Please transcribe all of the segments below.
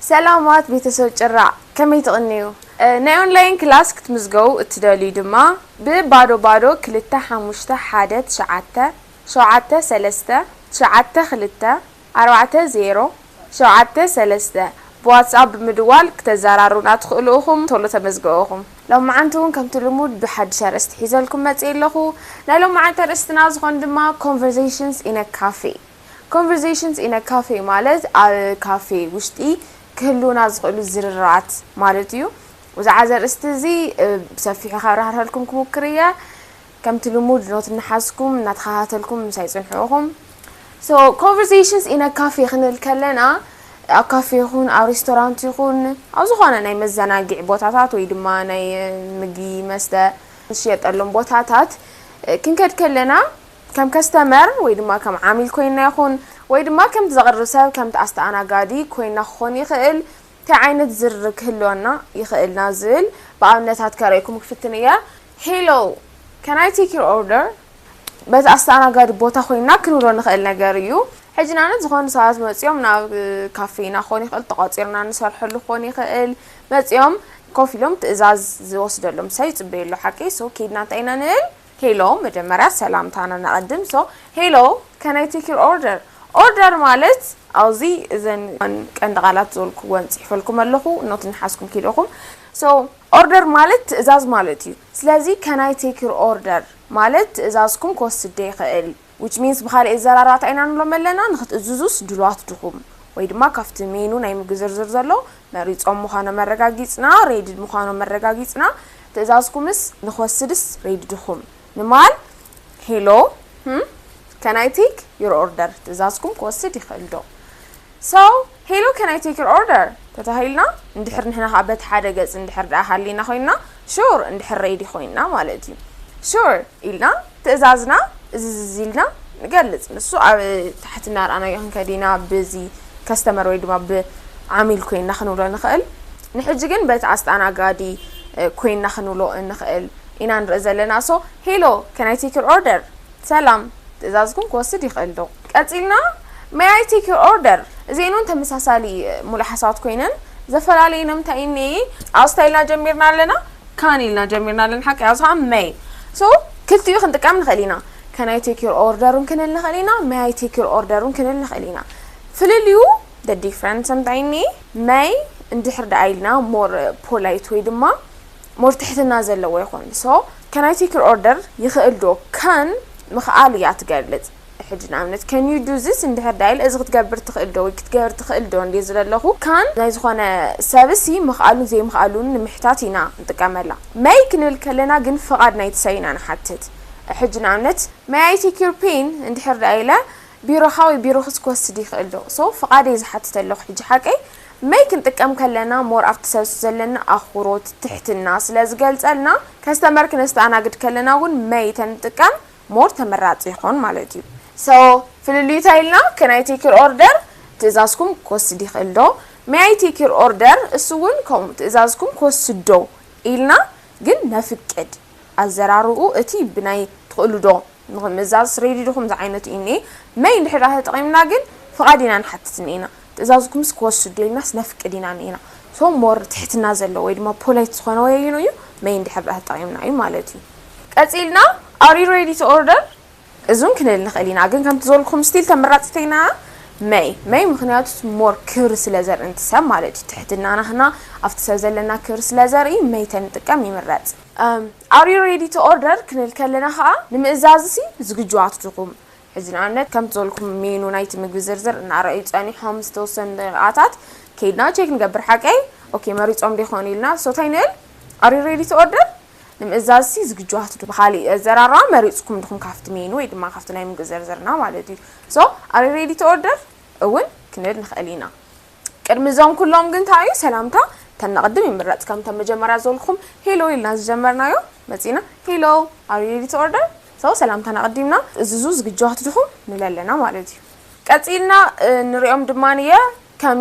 ሰላማት ቤተሰብ ጭራ ከመይ ትቕንዩ? ናይ ኦንላይን ክላስ ክትምዝገቡ እትደልዩ ድማ ብ ባዶ ባዶ ክልተ ሓሙሽተ ሓደ ትሽዓተ ሸውዓተ ሰለስተ ትሽዓተ ክልተ ኣርባዕተ ዜሮ ሸውዓተ ሰለስተ ብዋትስኣፕ ብምድዋል ክተዛራሩና ትኽእሉ እኹም ቶሎ ተመዝገቡ እኹም። ሎምዓንቲ ውን ከምቲ ልሙድ ብሓድሽ ኣርእስቲ ሒዘልኩም መጺኤ ኣለኹ ናይ ሎምዓንቲ ኣርእስትና ዝኾን ድማ Conversations in a Cafe Conversations in a Cafe ማለት ኣብ ካፌ ውሽጢ ክህልዉና ዝኽእሉ ዝርርባት ማለት እዩ ብዛዕባ እዚ ኣርእስቲ እዚ ብሰፊሑ ካብራህርሀልኩም ክሙክር እየ። ከምቲ ልሙድ ኖት እናሓዝኩም እናተኻታተልኩም ምሳይ ጽንሑ ኢኹም። So conversations in a cafe ክንብል ከለና ኣብ ካፌ ይኹን ኣብ ሬስቶራንት ይኹን ኣብ ዝኾነ ናይ መዘናግዒ ቦታታት ወይ ድማ ናይ ምግቢ መስተ ዝሽየጠሎም ቦታታት ክንከድ ከለና ከም ከስተመር ወይ ድማ ከም ዓሚል ኮይና ይኹን ወይ ድማ ከምቲ ዘቕርብ ሰብ ከምቲ ኣስተኣናጋዲ ኮይና ክኾን ይኽእል ታይ ዓይነት ዝርርብ ክህልወና ይኽእል ናብ ዝብል ብኣብነታት ከርእየኩም ክፍትን እየ። Hello! Can I take your order? በቲ ኣስተኣናጋዲ ቦታ ኮይንና ክንብሎ ንኽእል ነገር እዩ። ሕጂ ንኣብነት ዝኾኑ ሰባት መጺኦም ናብ ካፌና ክኾን ይኽእል፣ ተቋጺርና ንሰርሐሉ ክኾን ይኽእል፣ መጺኦም ኮፍ ኢሎም ትእዛዝ ዝወስደሎም ሰብ ይጽበዩ ኣሎ ሓቀይ? So ኬድና እንታይ ኢና ንብል? ሄሎ መጀመርያ ሰላምታና ነቀድም so ሄሎ can I take your order ኦርደር ማለት ኣብዚ እዘን ቀንዲ ቃላት ዝበልኩወን ጽሒፈልኩም ኣለኹ ኖት እንሓዝኩም ኪዱ ኢኹም so ኦርደር ማለት ትእዛዝ ማለት እዩ ስለዚ can I take your order ማለት ትእዛዝኩም ክወስድ ዶ ይኽእል Which means ብኻሊእ ኣዘራርባ ታይ ኢና ንብሎም ኣለና ንኽትእዝዙስ ድሉዋት ድኹም ወይ ድማ ካፍቲ ሜኑ ናይ ምግቢ ዝርዝር ዘሎ መሪፆም ምዃኖም ኣረጋጊፅና Ready ምዃኖም ኣረጋጊፅና ትእዛዝኩምስ ንኽወስድስ Ready ድኹም ንማል Hello Can I take your order ትእዛዝኩም ክወስድ ይኽእል ዶ So, Hello can I take your order? ተታሂልና እንድሕር ንሕና ከኣ በቲ ሓደ ገጽ እንድሕር ደኣ ሃሊና ኮይንና Sure እንድሕር Ready ኮይንና ማለት እዩ Sure ኢልና ትእዛዝና እዝዝዝ ኢልና ንገልጽ ንሱ ኣብ ታሕቲ እናርኣናዮ ክንከድ ኢና ብዚ Customer ወይ ድማ ብ ዓሚል ኮይንና ክንብሎ ንኽእል ንሕጂ ግን በቲ ኣስተኣናጋዲ ኮይንና ክንብሎ እንኽእል ኢና ንርኢ ዘለና So, Hello can I take your order? ሰላም ትእዛዝኩም ክወስድ ይኽእል ዶ? ቀጺልና May I take your order? እዚኤን ውን ተመሳሳሊ ሙሉእ ሓሳባት ኮይነን ዘፈላለየን እንታይ እዩን እየ? ኣስታይ ኢልና ጀሚርና ኣለና Can ኢልና ጀሚርና ኣለና ሓቀይ ኣብዚ ከኣ May so ክልቲኡ ክንጥቀም ንኽእል ኢና Can I take your order ውን ክንል ንኽእል ኢና May I take your order ውን ክንል ንኽእል ኢና ፍልልዩ the difference እንታይ እዩን እየ May እንድሕር ደኣ ኢልና more polite ወይ ድማ more ትሕትና ዘለዎ ይኾን so can I take your order ይኽእል ዶ can ምኽኣል እያ ትገልጽ ሕጂ ንኣብነት can you do this እንድሕር ዳይል እዚ ክትገብር ትኽእል ዶ ወይ ክትገብር ትኽእል ዶ እንድየ ዝለለኹ can ናይ ዝኾነ ሰብሲ ምኽኣሉን ዘይምኽኣሉን ንምሕታት ኢና ንጥቀመላ may ክንብል ከለና ግን ፍቓድ ናይቲ ሰብ ኢና ንሓትት ሕጂ ንኣብነት may I take your pen እንድሕር ዳይለ ቢሮኻ ወይ ቢሮኽስ ክወስድ ይኽእል ዶ so ፍቓድ እየ ዝሓትት ኣለኹ ሕጂ ሓቀይ መይ ክንጥቀም ከለና ሞር ኣብቲ ሰብ ዘለና ኣኹሮት፣ ትሕትና፣ ስለ ዝገልጸልና ከስተመር ክነስተኣናግድ ከለና ውን መይ ተንጥቀም ሞር ተመራጺ ይኾን ማለት እዩ። So ፍልልዩ ታይ ኢልና can I take your order ትእዛዝኩም ክወስድ ይኽእል ዶ May I take your order እሱ ውን ከምኡ ትእዛዝኩም ክወስድ ዶ ኢልና ግን ነፍቅድ ኣዘራርብኡ እቲ ብናይ ትኽእሉ ዶ ንኽምእዛዝ ሬዲድኹም ዝዓይነቱ እዩ እኔ መይ እንድሕዳ ተጠቒምና ግን ፍቓድ ኢና ንሓትት እኔና ትእዛዝኩምስ ክወስዱ ኢልናስ ነፍቅድ ኢና እኔና so more ትሕትና ዘለዎ ወይ ድማ polite ዝኾነ ወይ ኣየኑ እዩ መይ እንድሕዳ ተጠቒምና እዩ ማለት እዩ ቀጺልና are you ready to order እዙን ክንል ንኽእል ኢና ግን ከምቲ ዝበልኩም still ተመራጽተይና መይ መይ ምኽንያቱስ more ክብሪ ስለ ዘርኢ ንቲ ሰብ ማለት እዩ ትሕትና ናህና ኣብቲ ሰብ ዘለና ክብሪ ስለ ዘርኢ መይ ተንጥቀም ይምረጽ። Are you ready to order? ክንል ከለና ከኣ ንምእዛዝሲ ዝግጁዋት ዲኹም? ሕጂ ንኣብነት ከምቲ ዝበልኩም ሜኑ ናይቲ ምግቢ ዝርዝር እናረኣዩ ጸኒሖም ዝተወሰኑ ደቂቓታት ከይድና ቼክ ንገብር ሓቀይ? ኦኬ መሪጾም ዶ ይኾኑ ኢልና ብጾታ ይንእል Are you ready to order? ንምእዛዝሲ ዝግጁዋት ዲኹም? ብኻሊእ ኣዘራርባ መሪጽኩም ዲኹም ካብቲ ሜኑ ወይ ድማ ካብቲ ናይ ምግቢ ዝርዝርና ማለት እዩ። So Are you ready to order? እውን ክንል ንኽእል ኢና። ቅድሚ እዞም ኩሎም ግን ታይ እዩ ሰላምታ ተነቅድም ይምረፅ ከምቶም መጀመርያ ዝበልኩኹም ሄሎ ኢልና ዝጀመርናዮ መፂና ሄሎ are you ready to order so ሰላምታና ኣቅዲምና እዝዙ ዝግጁዋት ድኹም ንብል ኣለና ማለት እዩ ቀፂልና ንሪኦም ድማ እየ ከም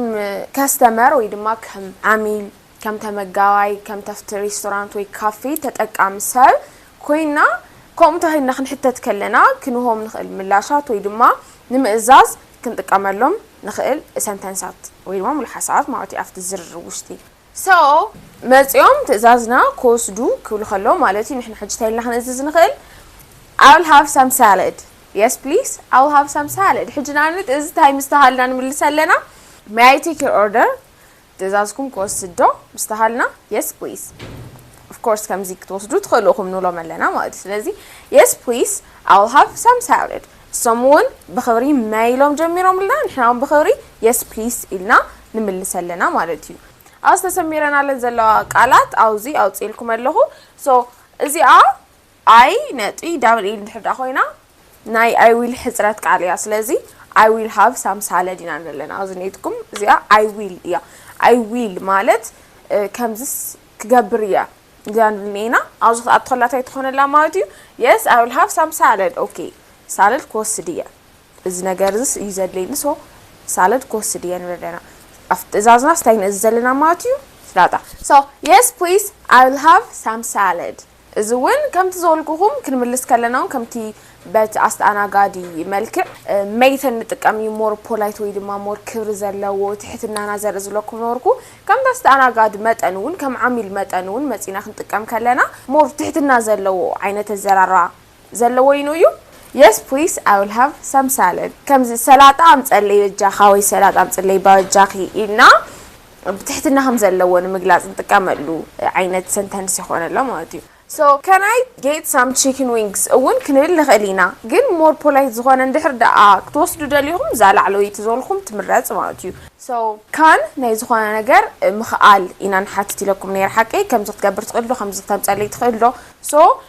ከስተመር ወይ ድማ ከም ዓሚል ከም ተመጋባይ፣ ከም ተፍቲ ሬስቶራንት ወይ ካፌ ተጠቃሚ ሰብ ኮይንና ከምኡ እንተኺልና ክንሕተት ከለና ክንሆም ንኽእል ምላሻት ወይ ድማ ንምእዛዝ ክንጥቀመሎም ንኽእል ሰንተንሳት ወይ ድማ ምሉሓሳባት ማለት እዩ ኣብቲ ዝርርብ ውሽጢ። So መጺኦም ትእዛዝና ክወስዱ ክብሉ ከለዉ ማለት እዩ ንሕና ሕጂ እንታይ ኢልና ክንእዝዝ ንኽእል? I will have some salad Yes please I will have some salad ሕጂ ንኣብነት እዚ እንታይ ምስ ተባሃልና ንምልስ ኣለና? May I take your order? ትእዛዝኩም ክወስድ ዶ ምስ ተሃልና yes please of course ከምዚ ክትወስዱ ትኽእሉ ኢኹም ንብሎም ኣለና ማለት እዩ ስለዚ yes please I will have some salad እሶም እውን ብኽብሪ መይ ኢሎም ጀሚሮምልና ንሕና እውን ብኽብሪ yes please ኢልና ንምልስ ኣለና ማለት እዩ ኣብዚ ተሰሚረናለን ዘለዋ ቃላት ኣብዚ ኣውፅእልኩም ኣለኹ so እዚኣ I ነጥቢ ዳብል ኢል እንድሕር ድኣ ኮይና ናይ I will ሕጽረት ቃል እያ ስለዚ I will have some salad ኢና ዘለና ኣዝነትኩም እዚኣ I will እያ I will ማለት ከምዝስ ክገብር እያ እዚኣ ንብል ኔና ኣብዚ ክኣ ትኸላ ታይ ትኾነላ ማለት እዩ yes I will have some salad okay ሳለድ ክወስድ እየ እዚ ነገር እዚስ እዩ ዘድለይኒ ሶ ሳለድ ክወስድ እየ ንብል ኣለና ኣብ ትእዛዝናስ እንታይ ንእዝ ዘለና ማለት እዩ ስላጣ so yes please I will have some salad እዚ ውን ከምቲ ዝበልኩኹም ክንምልስ ከለና ውን ከምቲ በቲ ኣስተኣናጋዲ መልክዕ መይተ ንጥቀም እዩ ሞር ፖላይት ወይ ድማ ሞር ክብሪ ዘለዎ ትሕትናና ዘርኢ ዝለኩም ነበርኩ ከምቲ ኣስተኣናጋዲ መጠን ውን ከም ዓሚል መጠን ውን መጺና ክንጥቀም ከለና ሞር ትሕትና ዘለዎ ዓይነት ኣዘራርባ ዘለዎ ይኑ እዩ የስ ፕሊስ ኣይ ዊል ሃቭ ሳም ሳለድ ከምዚ ሰላጣ ኣምፀለይ በጃካ ወይ ሰላጣ ኣምፅለይ ባጃኪ ኢልና ብትሕትና ከም ዘለዎ ንምግላፅ ንጥቀመሉ ዓይነት ሰንተንስ ይኾነሎ ማለት እዩ ሶ ካን ኣይ ጌት ሳም ቺክን ዊንግስ እውን ክንብል ንኽእል ኢና ግን ሞር ፖላይት ዝኾነ እንድሕር ደኣ ክትወስዱ ደሊኹም እዛ ላዕለወይቲ ዝበልኹም ትምረፅ ማለት እዩ ሶ ካን ናይ ዝኾነ ነገር ምኽኣል ኢና ንሓትት ኢለኩም ነይረ ሓቀይ ከምዚ ክትገብር ትኽእል ዶ ከምዚ ክተምፀለይ ትኽእል ዶ ሶ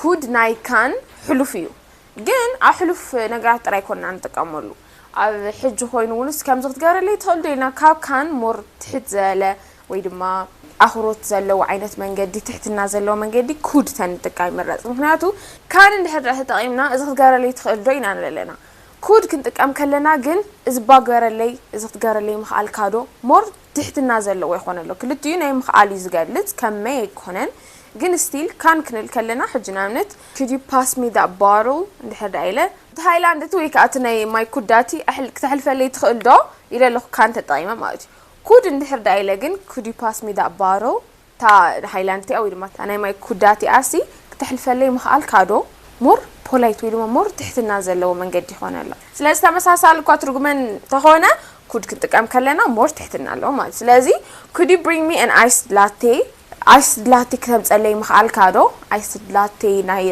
ኩድ ናይ ካን ሕሉፍ እዩ ግን ኣብ ሕሉፍ ነገራት ጥራይ ኮና ንጥቀመሉ ኣብ ሕጂ ኮይኑ ውንስ ከምዚ ክትገብረለይ ትኽእል ዶ ኢልና ካብ ካን ሞር ትሕት ዘለ ወይ ድማ ኣኽሮት ዘለዎ ዓይነት መንገዲ ትሕትና ዘለዎ መንገዲ ኩድ ተንጥቃ ይምረጽ ምክንያቱ ካን እንድሕር ተጠቒምና እዚ ክትገብረለይ ትኽእል ዶ ኢና ንለለና ኩድ ክንጥቀም ከለና ግን እዚ ባግበረለይ እዚ ክትገብረለይ ምኽኣልካ ዶ ሞር ትሕትና ዘለዎ ይኮን ኣሎ ክልቲኡ ናይ ምክኣል እዩ ዝገልጽ ከም መይ ኣይኮነን ግን ስቲል ካን ክንል ከለና ሕጂ ንኣብነት could you pass me that bottle እንድሕር ደኣ ኢለ እቲ ሃይላንድ እቲ ወይ ከኣ እቲ ናይ ማይ ኩዳቲ ኣሕል ክተሕልፈለይ ትክእል ዶ ኢለ ኣለኩ ካን ተጠቂመ ማለት እዩ could እንድሕር ደኣ ኢለ ግን could you pass me that bottle እታ ሃይላንድ እቲኣ ወይ ድማ እታ ናይ ማይ ኩዳ እቲኣሲ ክተሕልፈለይ ምኽኣልካ ዶ more polite ወይ ድማ more ትሕትና ዘለዎ መንገዲ ይኾን ኣሎ። ስለዚ ተመሳሳሊ እኳ ትርጉመ እንተኾነ could ክንጥቀም ከለና more ትሕትና ኣለዎ ማለት እዩ። ስለዚ could you bring me an iced latte iced latte ክተምፀለይ ምኽኣልካ ዶ iced latte ናይ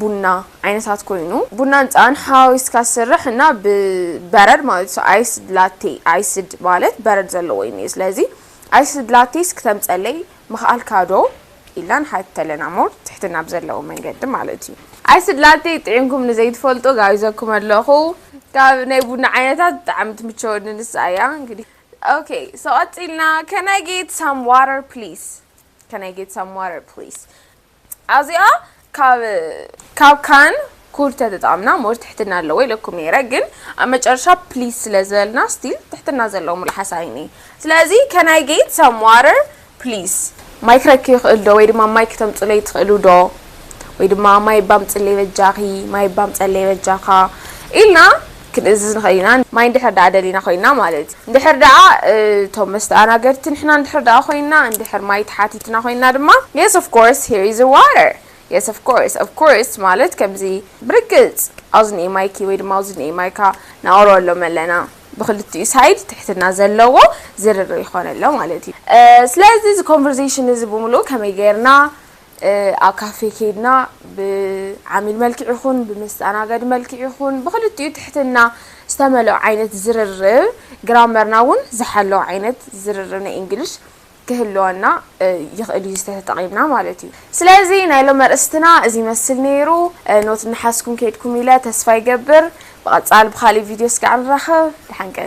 ቡና ዓይነታት ኮይኑ ቡናን ፀባን ሓዋዊስካ ዝስራሕ እና ብበረድ ማለት እዩ። so iced latte iced ማለት በረድ ዘለዎ እዩ እኒኦ ስለዚ ኣይ ስድላቲስ ክተምጸለይ ምክኣልካ ዶ ኢልና ንሓተለና ሞር ትሕትና ብዘለዎ መንገዲ ማለት እዩ። ኣይ ስድላተይ ጥዒምኩም ንዘይትፈልጡ ጋቢዘኩም ኣለኹ ካብ ናይ ቡና ዓይነታት ብጣዕሚ ትምቸወኒ ንሳ እያ እንግዲ ኦኬ ሶ ቀጺልና can I get some water please can I get some water please ኣዚኣ ካብ ካብ ካን ኩል ተተጣምና ሞር ትሕትና ኣለዎ ኢለኩም ነይረ ግን ኣብ መጨረሻ ፕሊስ ስለ ዝበልና ስቲል ትሕትና ዘለዎ ምልሓስ ኣይኒ ስለዚ can I get some water please ማይ ክረኪ ይኽእል ዶ ወይ ድማ ማይ ክተምጹለይ ትኽእሉ ዶ ወይ ድማ ማይ ባምጽለይ በጃኺ ማይ ባምጸለይ በጃኻ ኢልና ክንእዝዝ ንኽእል ኢና፣ ማይ እንድሕር ደኣ ደሊና ኮይንና ማለት እዩ። እንድሕር ደኣ እቶም መስተኣናገድቲ ንሕና እንድሕር ደኣ ኮይንና፣ እንድሕር ማይ ተሓቲትና ኮይንና ድማ፣ Yes of course here is your water Yes of course of course ማለት ከምዚ ብርግጽ ኣውዝን'የ ማይኪ ወይ ድማ ኣውዝን'የ ማይካ ነቕርበሎም ኣለና። ብኽልቲኡ ሳይድ ትሕትና ዘለዎ ዝርርብ ይኾን ኣሎ ማለት እዩ። ስለዚ እዚ ኮንቨርሴሽን እዚ ብምሉኡ ከመይ ጌርና፣ ኣብ ካፌ ከይድና ብዓሚል መልክዕ ይኹን ብመስተኣናጋዲ መልክዕ ይኹን ብኽልቲኡ ትሕትና ዝተመልኦ ዓይነት ዝርርብ ግራመርና እውን ዝሓለወ ዓይነት ዝርርብ ናይ እንግሊሽ ክህልወና ይኽእል እዩ ዝተተጠቒምና ማለት እዩ። ስለዚ ናይ ሎሚ ኣርእስትና እዚ ይመስል ነይሩ። ኖት እናሓዝኩም ከይድኩም ኢለ ተስፋ ይገብር። ብቐጻሊ ብኻልእ ቪድዮ ስጋዕ ንራኸብ። ደሓን ቀንዩ።